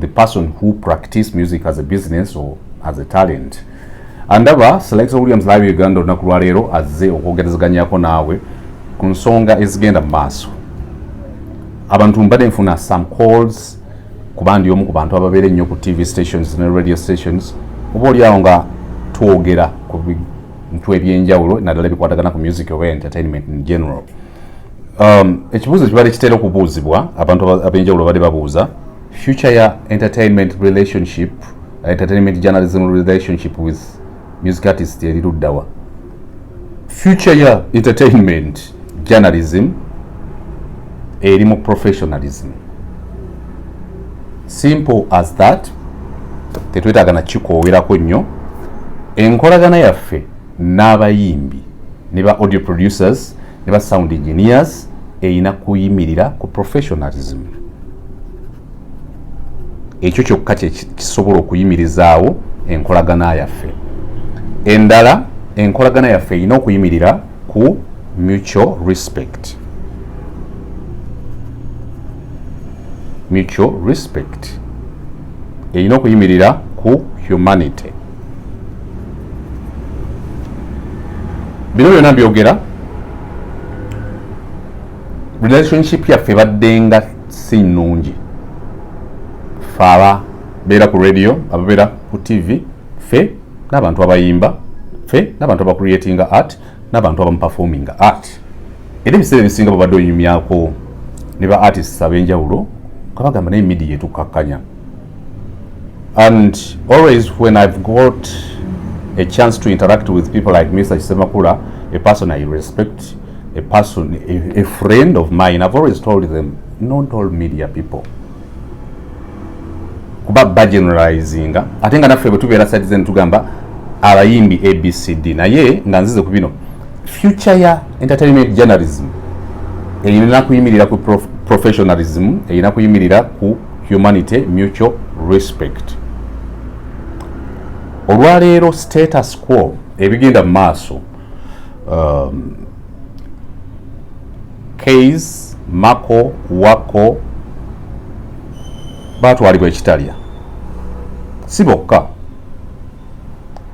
the person who practice music as a business or as a talent andaba selecta williams live uganda olunaku lwaleero azze okwogerezeganyako naawe ku nsonga ezigenda mu maaso abantu mbadde nfuna some calls kuba ndi omu ku bantu ababeera ennyo ku tv stations ne radio stations oba oliawo nga twogera ku bintu ebyenjawulo naddala ebikwatagana ku music oba entertainment in general um, ekibuuzo kibadde kitera okubuuzibwa abantu ab'enjawulo bali babuuza future ya entertainment relationship uh, entertainment journalism relationship with music artist eri luddawa future ya entertainment journalism eri mu professionalism simple as that tetwetaaga nakikoowerako nnyo enkolagana yaffe n'abayimbi ne ba audio producers ne ba sound engineers erina kuyimirira ku professionalism ekyo kyokka kyekisobola okuyimirizaawo enkolagana yaffe endala enkolagana yaffe erina okuyimirira ku mutual respect mutual respect erina okuyimirira ku humanity bino byona byogera relationship yaffe baddenga si nnungi fe ababeera ku radio ababeera ku tv fe n'abantu abayimba fe n'abantu abacreatinga art n'abantu abamu performing art era ebiseera ebisinga babadde onyumyako ne ba artists ab'enjawulo kabagamba naye media etukakkanya and always when i've got a chance to interact with people like mr kisemakula a person i respect a person a, a friend of mine i've always told them not all media people kuba bageneralizinga ate nga naffe bwetubeera side zen tugamba abayimbi abcd naye nga nzize ku bino future ya entertainment journalism erina kuyimirira ku professionalism erina kuyimirira ku humanity mutual respect olwaleero status quo ebigenda mu maaso um, kays mako wako batwalibwa ekitalya si bokka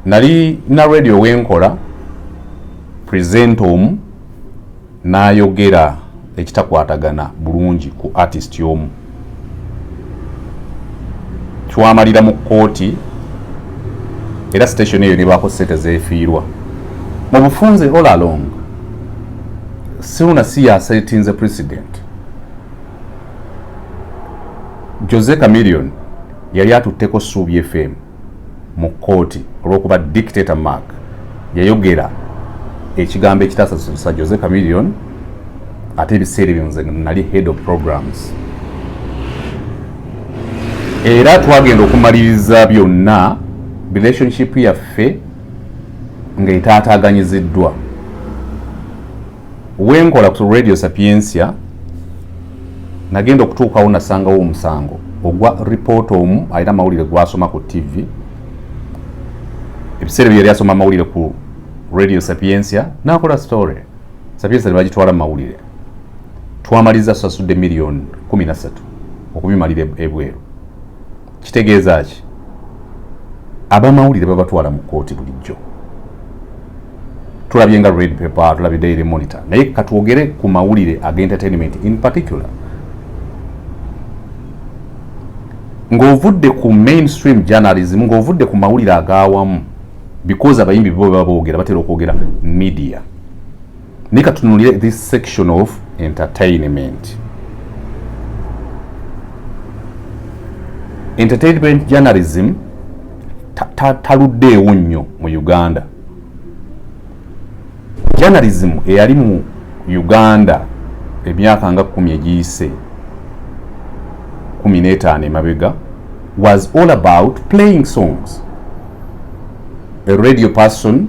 nali na radio wenkola present omu n'ayogera ekitakwatagana bulungi ku artist omu twamalira mu kkooti era station eyo nebaako sente zefiirwa mu bufunze all along siuna si yasetinze president jose camilion yali atutteko suubi fm mu kkooti olw'okuba dictator mark yayogera ekigambo ekitasasusa jose camilion ate ebiseera ebyo nze nali head of programs era twagenda okumaliriza byonna relationship yaffe ng'etaataaganyiziddwa wenkola ku radio sapiensia nagenda okutuukawo nasangawo omusango ogwa report omu alina amawulire gwasoma ku tv ebiseera bye yali asoma amawulire ku radio sapiensia nakola story sapiensia nebagitwala mumawulire twamaliza sasudde million kumi nasatu okubimalira ebweru kitegeeza ki abamawulire babatwala mu kkooti bulijjo tulabye nga red paper tulabye daily monitor naye katwogere ku mawulire ag entertainment in particular ng'ovudde ku mainstream journalism ng'ovudde ku mawulire agawamu because abayimbi bo baba boogera batera okwogera media naye katunulire this section of entertainment entertainment journalism taluddeewo ta, ta nnyo mu uganda journalism eyali mu uganda emyaka nga kumi egiyise kumi n'etaano emabega was all about playing songs a radio person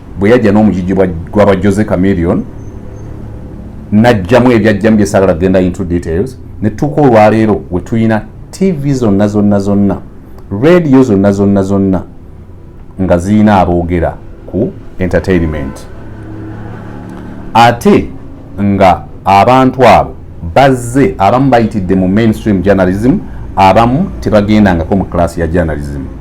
bwe yajja n'omugigi gwaba jose camilion najjamu ebyajjamu bye sagala genda into details ne tutuuka olwaleero we tulina tv zonna zonna zonna radio zonna zonna zonna nga zirina aboogera ku entertainment ate nga abantu abo bazze abamu bayitidde mu mainstream journalism abamu tebagendangako mu class ya journalism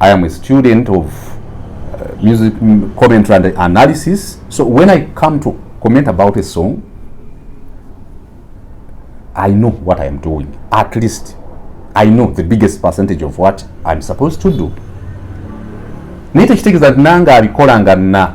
I am a student of uh, music mm, commentary and analysis. So when I come to comment about a song, I know what I am doing. At least I know the biggest percentage of what I'm supposed to do. Nite kitegeza nanga abikola nga na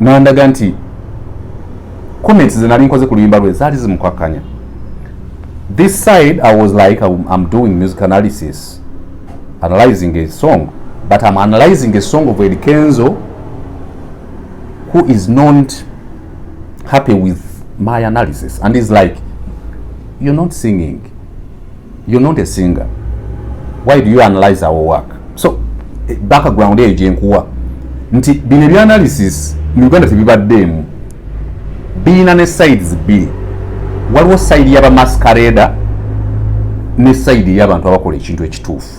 nandaga nti comments ze nali nkoze ku luyimba lwe zaali zimukwakkanya this side i was like i'm doing music analysis analyzing a song but i'm analyzing a song of Eddy Kenzo who is not happy with my analysis and is like you're not singing You're not a singer. Why do you analyze our work? So eh, background eyo gyenkuwa nti bino ebyanalysis mu Uganda tebibaddeemu, birina ne sides bbiri. Waliwo side yaba masquerade ne side y'abantu abakola ekintu ekituufu.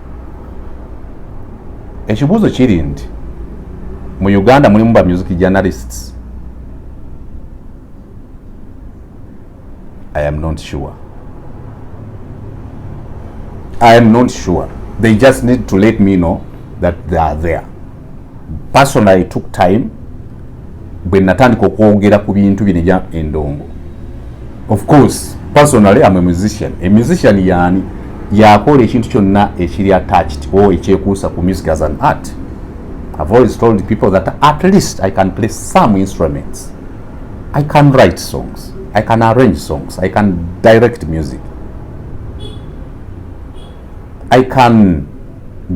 ekibuuzo kiri nti mu uganda mulimu ba music journalists i am not sure i am not sure they just need to let me know that they are there personally took time bwe natandika okwogera ku bintu bino ebya endongo of course personally am a musician a musician yani yakola ekintu kyonna ekiri attached o ekyekuusa ku music as an art i've always told people that at least i can play some instruments i can write songs i can arrange songs i can direct music I can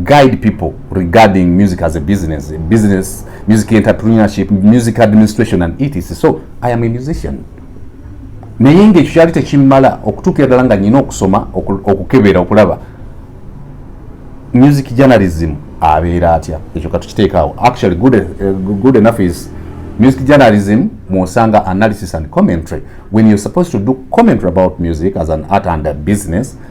guide people regarding music as a business, business, music entrepreneurship, music administration and etc. So I am a musician. naye ngaekyo kyali tekimmala okutuukira ddala nga nyina okusoma okukebera okulaba music journalism abeera atya ekyo katukiteekaawo actually good, uh, good enough is music journalism mwosanga analysis and commentary when you're supposed to do commentary about music as an art and a business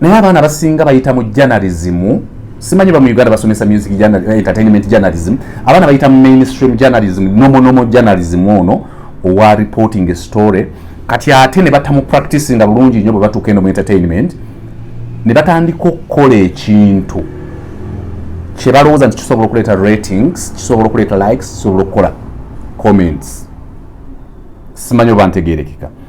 naye abaana abasinga bayita mu janalizimu simanyi bamu uganda basomesa music eh, entertainment journalism abaana bayita mu mainstream journalism nomonomo journalism ono owa reporting a story kati ate ne batamu practice nga bulungi nnyo bwe batuuka eno mu entertainment ne batandika okukola ekintu kye balowooza nti kisobola okuleeta ratings kisobola okuleeta likes kisobola okukola comments simanyi oba ntegerekeka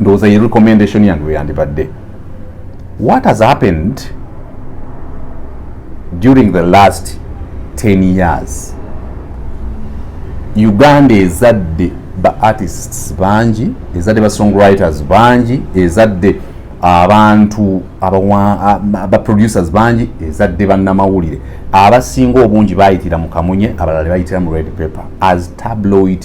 ndowooza ye recommendation yange weyandibadde what has happened during the last 10 years uganda ezadde ba artists bangi ezadde ba songwriters bangi ezadde abantu abaproducers bangi ezadde bannamawulire abasinga obungi bayitira mu kamunye abalala bayitira mu red paper as tabloid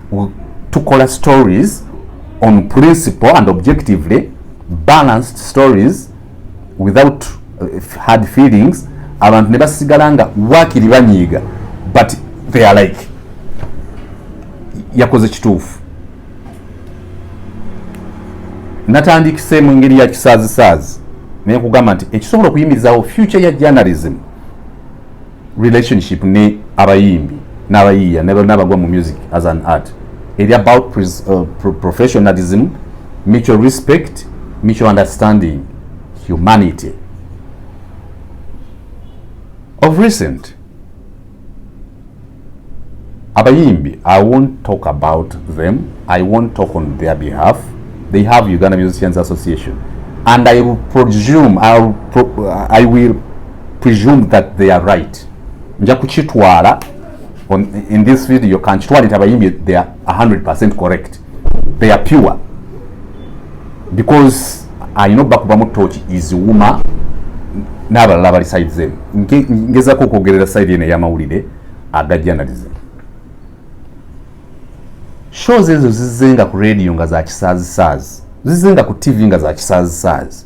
tukola stories on principle and objectively balanced stories without uh, hard feelings abantu ne basigala nga wakiri banyiiga but they are like yakoze kituufu natandikise mu ngeri ya kisaazisaazi naye kugamba nti ekisobola okuyimirizawo future ya journalism relationship ne abayimbi n'abayiiya n'abagwa mu music as an art eri about uh, professionalism mutual respect mutual understanding humanity of recent abayimbi i won't talk about them i won't talk on their behalf they have uganda musicians association and i will presume i will, pro I will presume that they are right nja kukitwala in this video kankitwale nti abayimbi they are 100 correct they are pure because alina obba kubamu tooki iziwuma n'abalala abali side zemu ngezako okwogerera side eno ey'amawulire agajanalize shows ezo zizenga ku radio nga za kisaazisaazi zizenga ku tv nga za kisaazisaazi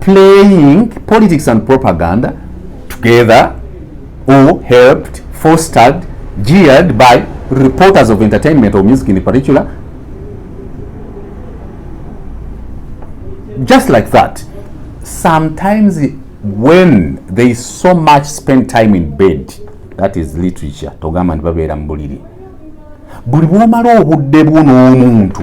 playing politics and propaganda together or helped, fostered, jeered by reporters of entertainment or music in particular. Just like that. Sometimes when there is so much spent time in bed, that is literature, togamba nti babeera mu buliri. Buli bw'omala obudde bwo n'omuntu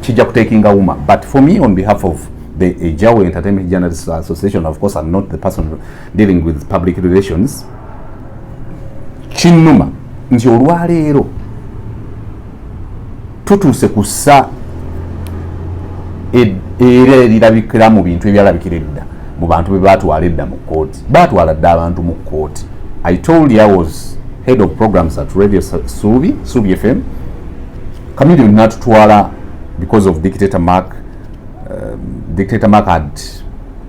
kijja kutekinga wuma but for me on behalf of the Ejawe Entertainment Journalists Association of course I'm not the person dealing with public relations kinnuma nti olwaleero tutuuse ku ssa era erirabikira mu bintu ebyalabikira edda mu bantu be baatwala edda mu kkooti baatwala dda abantu mu kkooti i told you i was head of programs at radio suubi suubi fm Chameleon natutwala because of dictator Mark. Uh, dictator Mark had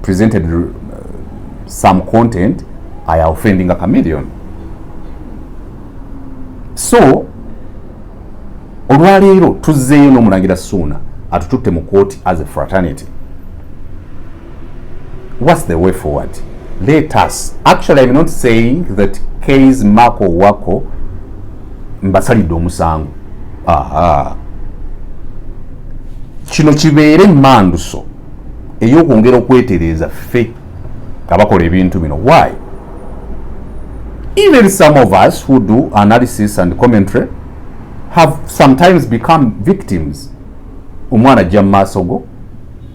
presented uh, some content I are offending a chameleon. So olwaleero tuzzeeyo n'omulangira Suuna atututte mu kooti as a fraternity. what's the way forward let us actually i'm not saying that kay's mako wako mbasalidde omusango aha kino kibeere manduso eyokwongera okwetereeza ffe abakola ebintu bino why even some of us who do analysis and commentary have sometimes become victims omwana ajja mu maaso go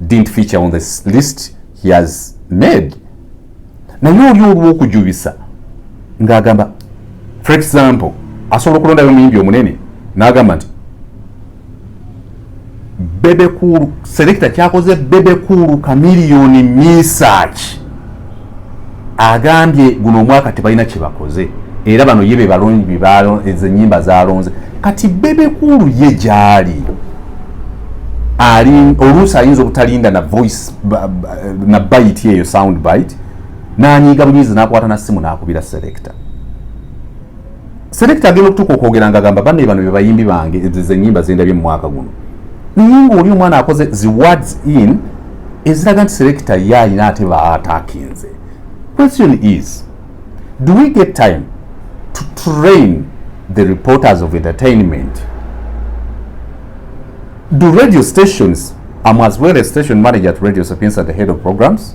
didn't feature on this list he has made naye oli olwokujubisa ng'agamba for example asobola okulondayo omuyimbi omunene n'agamba nti bebekulu selekita kyakoze bebekulu kamiliyoni misaki agambye guno omwaka tebalina kyebakoze era bano ye bebalonze enyimba zalonze kati bebekulu ye gyali oluusi ayinza obutalinda na voice na bite eyo sound bite nanyiiga bunyiizi nakwata na simu nakubira selecta Selector agenda okutuka okwogera nga gamba bane bano bebayimbi bange ze nyimba zendabye mu mwaka guno. Ningo oli omwana akoze zi words in eziraga nti selector ye alina ate ba atakinze. Question is do we get time to train the reporters of entertainment? Do radio stations, I'm as well a station manager at Radio Sapienza, the head of programs.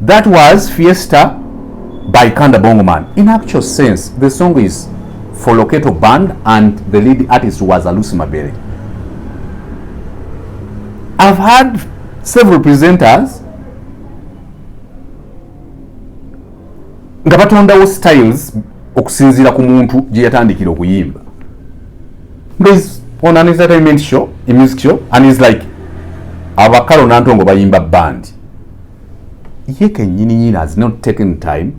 That was Fiesta by Kanda Bongoman. In actual sense, the song is for Loketo Band and the lead artist was Alusi Mabere. I've had several presenters nga batondawo styles okusinziira ku muntu gye yatandikira okuyimba is on an entertainment show a music show and is like abakalo nantongo bayimba band ye kenyini nyini has not taken time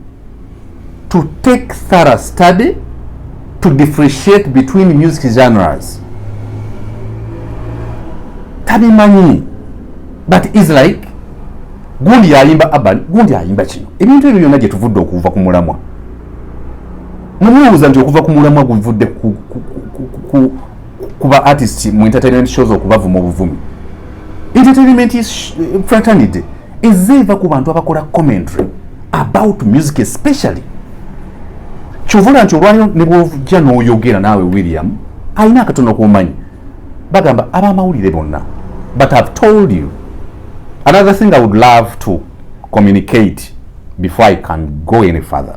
to take thorough study to differentiate between music genres tabimanyi but is like gundi yayimba aban gundi ayimba kino ebintu ebyo byonna gyetuvudde okuva ku mulamwa mwemuwuuza nti okuva ku mulamwa guvudde kuba artist mu entertainment shows okubavuma obuvumi entertainment is eh, fraternity ezze eva ku bantu abakola commentary about music especially kyovula nti olwaliro ne bwojja n'oyogera naawe william alina akatono kumanyi bagamba abamawulire bonna but ihave told you another thing i would love to communicate before i can go any further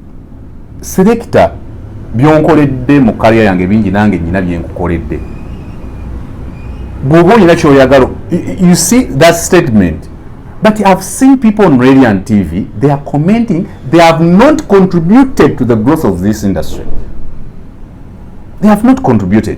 Selector byonkoledde mu kaliya yange bingi nange nyina byenkukoledde bwoba olina kyoyagala you see that statement but ihave seen people on radio and tv they are commenting they have not contributed to the growth of this industry they have not contributed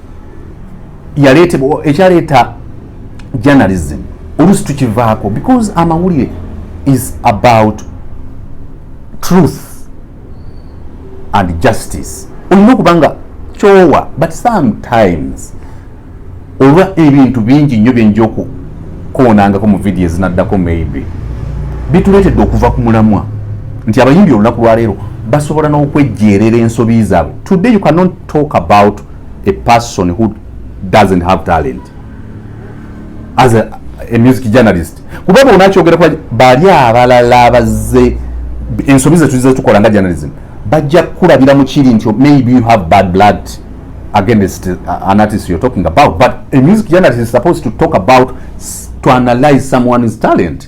yaleetebwa ekyaleeta journalism olusi tukivaako because amawulire is about truth and justice olina okuba nga kyowa but sometimes olwa ebintu bingi nnyo byenja okukoonangako mu vidiyo ezinaddako maybe bituleetedde okuva ku mulamwa nti abayimbi olunaku lwaleero basobola n'okwejjeerera ensobi zaabwe today you cannot talk about a person who doesn't have talent as a, a music journalist kuba bonakyogera kuba bali abalala abazze ensobi zetuzize tukola nga journalism bajja kukulabira mu kiri nti maybe you have bad blood against uh, an artist you're talking about but a music journalist is supposed to talk about to analyze someone's talent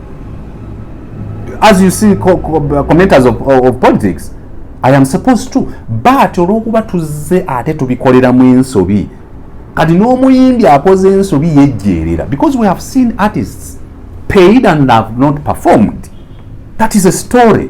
as you see co co uh, commenters of, of, of politics i am supposed to but olwokuba tuzze ate tubikolera mu ensobi kati n'omuyimbi akoze ensobi yejjeerera because we have seen artists paid and have not performed that is a story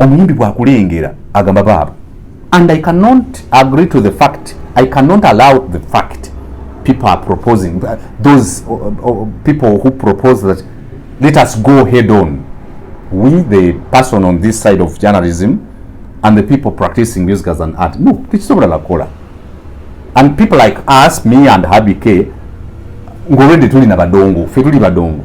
omuyimbi bwakulengera agamba baaba and i cannot agree to the fact i cannot allow the fact people are proposing those uh, uh, people who propose that let us go head on we the person on this side of journalism and the people practicing music as an art no tekisobola nakola and people like us me and habike ngolwedde tuli na badongo fe tuli badongo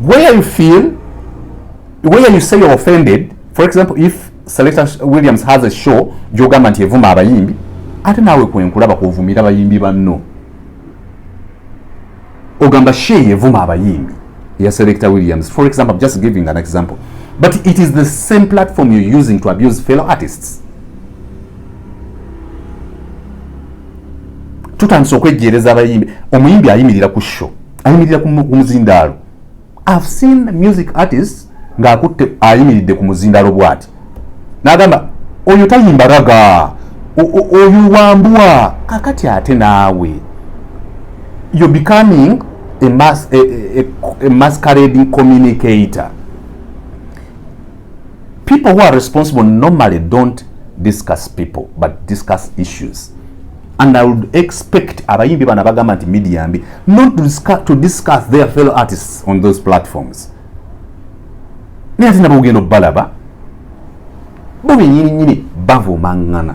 where you feel where you say you're offended for example if selector williams has a show gyogamba nti evuma abayimbi ate naawe kwenkulaba kwovumira bayimbi banno ogamba she yevuma abayimbi ya selector williams for example I'm just giving an example but it is the same platform you're using to abuse fellow artists tutandise okwejjeereza abayimbi omuyimbi ayimirira ku sho ayimirira ku muzindaalo i've seen music artist ng'akutte ayimiridde ku muzindaalo bwati n'agamba oyo tayimba raga oyo wambua kakati ate naawe you're becoming a, mas a, a, a masquerading communicator People who are responsible normally don't discuss people but discuss issues and I would expect abayimbi bana bagamba nti media mbi not to discuss, to discuss their fellow artists on those platforms naye ate nabo ogenda obalaba bo benyininyini bavumangana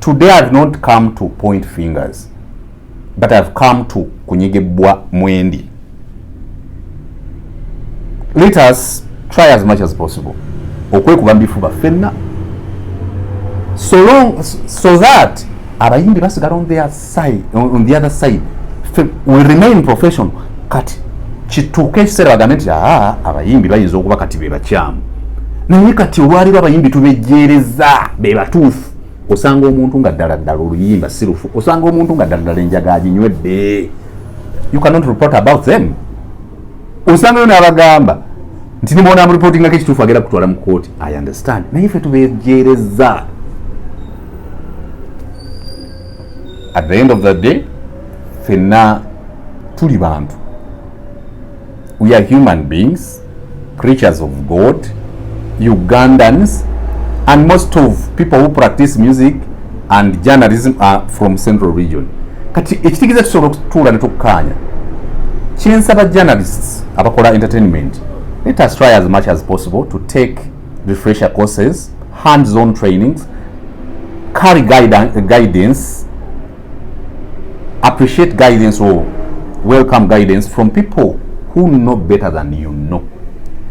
today i've not come to point fingers but i've come to kunyigibbwa mwendi let us try as much as possible okwekuba mubifuba fenna so long so that abayimbi basigala on their side, on the other side we remain professional kati kituuka ekiseera bagambe nti aa abayimbi bayinza okuba kati be bakyamu naye kati olwaliro abayimbi tubejjeereza be batuufu osanga omuntu nga ddala ddala oluyimba si lufu osanga omuntu nga ddala ddala enjaga aginywedde you cannot report about them osangayo n'abagamba nti nimwona amureportingako ekituufu agenda kutwala mu kooti i understand naye fe tubejjeereza at the end of the day fenna tuli bantu we are human beings creatures of god ugandans and most of people who practice music and journalism are from central region kati ekitegeeza tusobola okutuula netukkaanya kyensaba journalists abakola entertainment let us try as much as possible to take refresher courses hands on trainings carry guidance appreciate guidance or oh, welcome guidance from people who know better than you know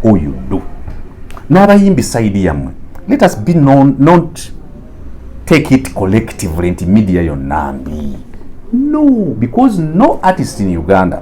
or you do n'abayimbi saidi yammwe let us be non, not take it collectively nti media yonna mbi no because no artist in uganda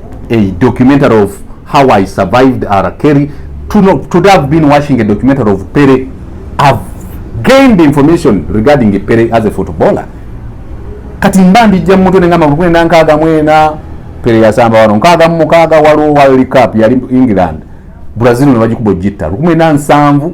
a documentary of how I survived R. Kelly. To, not, to have been watching a documentary of Pele, I've gained information regarding Pele as a footballer. Kati mba ndijja mu mutwe ne ngamba kwenda nkaaga mwena Pele yasamba wano nkaaga mu mukaaga waliwo World Cup yali England Brazil ne bagikuba ogitta lukumi na nsanvu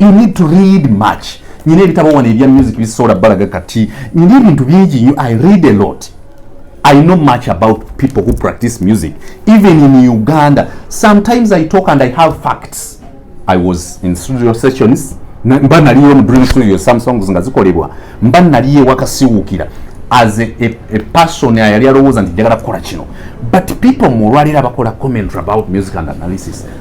you need to read much nyina ebitabo wano ebya music bisobola balaga kati nyina ebintu bingi nyo i read a lot i know much about people who practice music even in uganda sometimes i talk and i have facts i was in studio sessions mba naliyo mudream studio some songs nga zikolebwa mba naliyo ewakasiwuukira as a, a, a person ayali alowooza nti njagala kukola kino but people mu olwaleero abakola commentary about music and analysis